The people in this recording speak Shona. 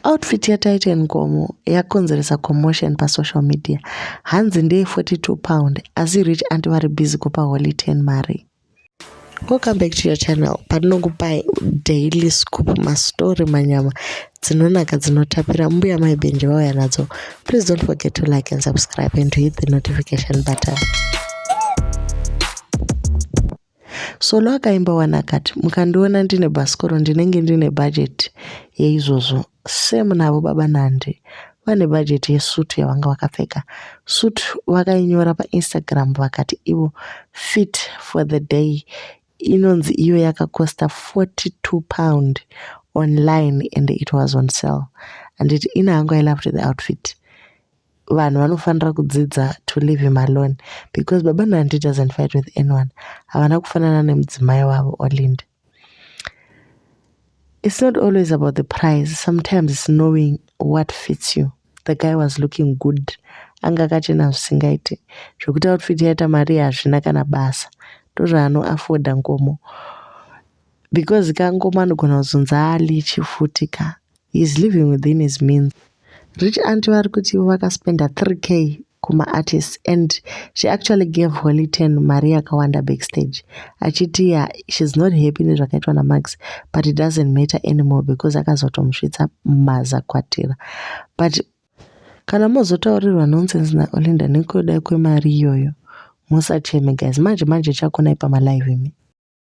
Outfit yaTaita Nkomo yakonzeresa commotion pasocial media. Hanzi ndeye 42 pound asi rich anti vari busy kupa Holy 10 mari. Welcome back to your channel patinokupai daily scoop mastory manyama dzinonaka dzinotapira mbuya mai benji vauya nadzo please don't forget to like and subscribe and to hit the notification button Solo akaimba wani akati mukandiona ndine bhasikoro ndinenge ndine bhajeti yeizvozvo same navo baba Nandi vane bhajeti yesutu yavanga vakapfeka. Sutu vakainyora paInstagram vakati ivo fit for the day inonzi iyo yakakosta 42 pound online and it was on sale. Handiti ini hangu I loved the outfit. vanhu vanofanira kudzidza to live him alone because baba nandi doesn't fight with anyone havana kufanana nemudzimai wavo olind it's not always about the prize sometimes it's knowing what fits you the guy was looking good anga akachena zvisingaiti zvekuti outfit yaita mari hazvina kana basa ndozvaanoafoda ngomo Because ka ngoma anogona kuzonzi alichi futi ka. He's living within his means. Rich aunt vari kuti ivo vakaspenda 3k kuma artists and she actually gave Holy Ten mari yakawanda backstage achiti ya she's not happy nezvakaitwa naMax but it doesn't matter anymore because akazotomusvitsa mazakwatira but kana mozotaurirwa nonsense naOlinda nekuda kwemari iyoyo musacheme guys manje manje chakonai pamalive imi